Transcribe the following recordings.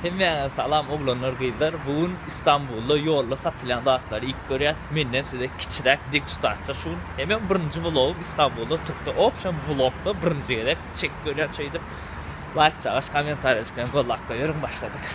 Hemmäňize salam oglanlar gyzlar bu gün Istanbulda ýolda satylýan zatlary iýip görýäs menden size kiçiräk degustasiýa şu gün hem hem birinji vlogym Istanbulda turkda opşam vlogda birinji gezek çekip görýän şeýdip laýk çagaş komentariýa düşýän gollap goýberiň başladyk.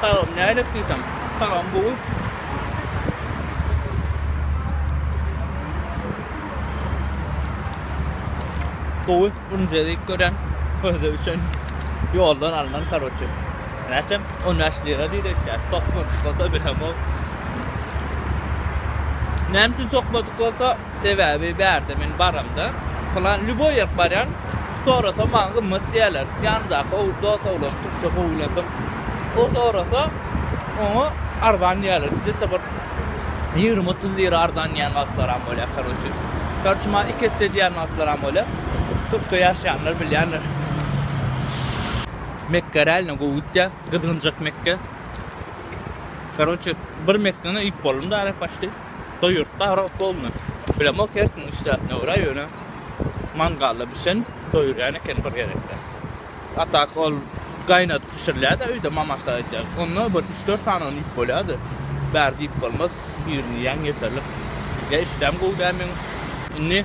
Tagam nälet diýsem, tagam gowy. Gowy, bunu jedik gören, sözde üçin ýoldan alnan karoçi. Näçem? 15 lira diýdi işte. Tokmadyk bolsa bilemok. Näme üçin tokmadyk bolsa Sebäbi bärde men baramda, plan lýuboý ýerik barýan, sorasam maňa gymmat diýýärler. Ýanymdaky o dos oglan türkçe gowy bilen soň o sorasa, oňa arzan diýýärler. Bizetde bir ýigrimi-otuz lira arzan diýýän wagtlaram bolýar, karoçi. Karoçi maňa iki esse diýýän wagtlaram bolýar. Türkde ýaşaýanlar bilýändir. Mekge realno gowy gitýär, gyzgynjak Mekge. Karoçi bir Mekgeni iýip boldum-da älek başdy. Şo ýurtda arap bolma. Bilemok her kim işdäpne görä ýöne mangalda bişen doýurýan eken bir gezekde. A tak ol gaýnadyp bişirilýärdi öýde mamaşlar edýär. Onda bir üç dört sany ony iýip bolýardy. Bäri diýip bolmaz. Birini iýen ýeterlik. Ýa işdäm gowy dälmiň. Indi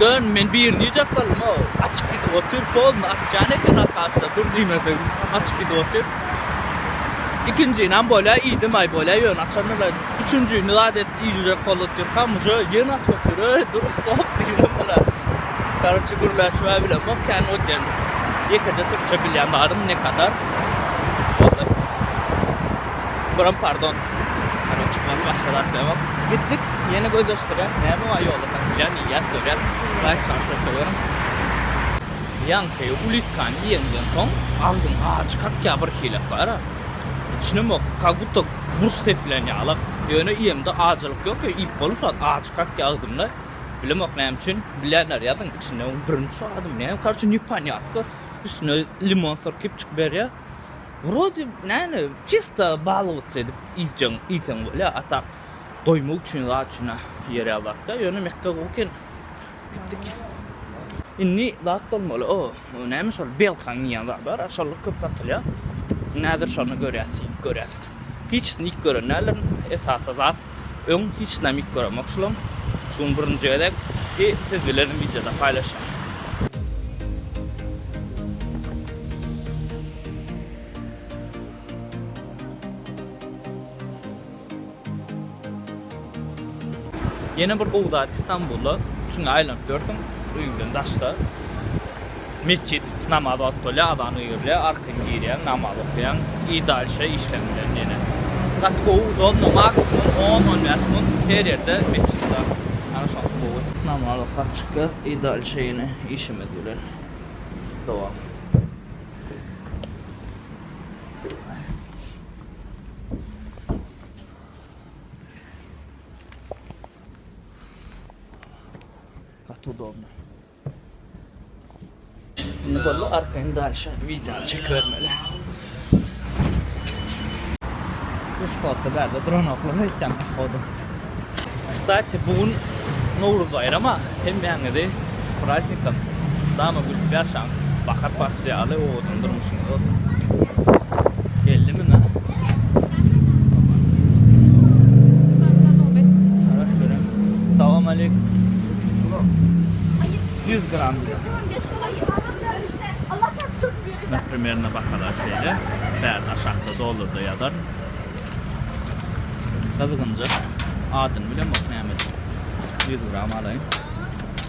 Dön men birini japalym o açyp gidip otyr polny açýan eken arkasda dur diýmesem açyp gidip otyr ikinjinam bolýa iýdim aý bolýa ýöne açandyr üçünjini zat et iýjek bolup otyr hamyja ýene açyp otyr öý dur stop diýdim bula karoçe gürläşme bilen ok kän otyr ýekeje türkçe bilýän barym ne kadar Buram pardon. Ýaňy çykmady başga zat ýok. Gitdik ýene gözleşdirýäs näme bar ýolda satylýan iýýäs görýäs. Baý şaşyr söwerim. Ýaňky ulitkany iýeniňden soň agzyň ajy kakýar bir hile para. Içinem ýok kak guto burç sepilen ýaly. Ýöne iýemde ajylyk ýok ýa iýip bolup şat ajy kakýar agzymda. Bilemok näme üçin bilýänler ýazyň içinde birinji şu adam näme karoçe nepanýatko üstüne limon syrkyp çykyberýär. Wrode näne çysta balyk edip iýseň iýseň bolýar a tak doýmak üçin zat üçin a ýere zatda ýöne Mekge gowy eken gitdik indi zat bolmaly o näme şol belkaň diýen zat bar a şolar köp satylýar indi häzir şony görýäs iýip görýäs hiçisini iýip gören däldirin esasy zat Öň hiç namik göremokşulam. Şu gün birinji gezek i siz bilen wideoda paýlaşýan. Ýene bir gowy zat Istanbulda, şuňa aýlanyp ýörsüň, öýüňden daşda. Metjit, namaz wagty bolýar, azan öýürilýär, arkan girýäň, namaz okaýaň i dalşa işleň bilen ýene. Gaty gowy udobno, maksimum on, on bäş mun her ýerde metjit bar. Ana şoňa gowy. Namaz okap çykýas i dalşa ýene işimiz bilen dowam. Gaty udobno. Indi boldy arkaýyn dalşa wideony çekibermeli. Bu spotda bärde duranoklar öýtýän pohodu. Kstati bu gün Nowruz baýrama hemmäňizi s praznikom! Dama gülüp ýaşaň! Bahar Ýaly owadan durmuşyňyz bellimi na? Salam aleýkum. Ýüz gram. Na primerno bahalar şeýle. Bäri aşakda dollarda ýazar. Gyzgynjak. Adyny bilemok nämedir. Ýüz gram alaýyn.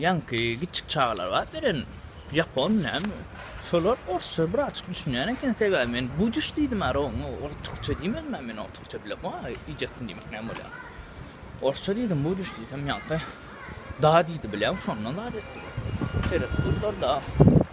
Ýaňky kiçjik çagalar bar beren ýapon näme şolar orsça birazjyk düşünýän eken sebäbi men budyş diýdim ara oňa ol türkçe diýmedim a men oňa türkçe bilemok a iýjekmi diýmek näme bolýar orsça diýdim budyş diýsem ýaňky da diýdi bilýäň şondan zat etdim şeýle durdular da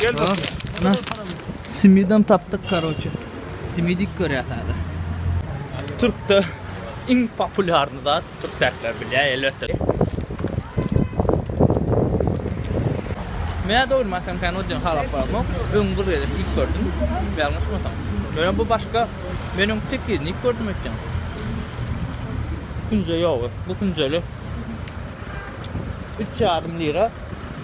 Gel bak. Ana. Simidem tapdyk karoçe. Simidik görýäs hada. Türkde iň populýarny zat türk täsler bilýär elbetde. Mä dogurma sen kan ödün halap barma. Öň bir gezek ilk gördüm. Ýalňyşmasam. Öňe bu başga meniň tek ýerini ilk gördüm ötden. Künje ýok. Bu künjeli. 3 ýarym lira.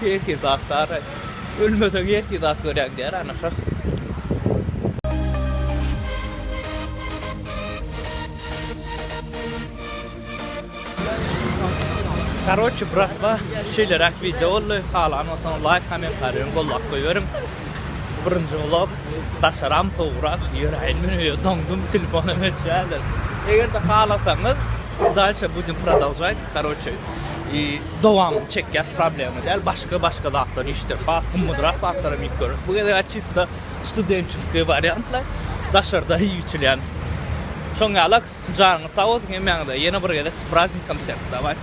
Herki zat bar aý. Ölmeseň herki zat görä gider ana şa. Karoçi bratwa şeýleräk wideo boldy halan bolsaňyz laýk komentariýaňy goldap goýberiň birinji vlog daşaram sowugrak ýöräýin men öýe doňdum telefonam öçýärler egerde halasaňyz dalşe budem prodalžaýt. Karoçe i dowam çekýas problema däl başga başga zatlar işdir has gymmatrak zatlara miyip görüp bu gezek açysta studentçeskiý wariantlar daşarda ýüçülýän şoň ýalak janyňyz sag bolsun emmäňize ýene bir gezek spraznikam seni dawayt.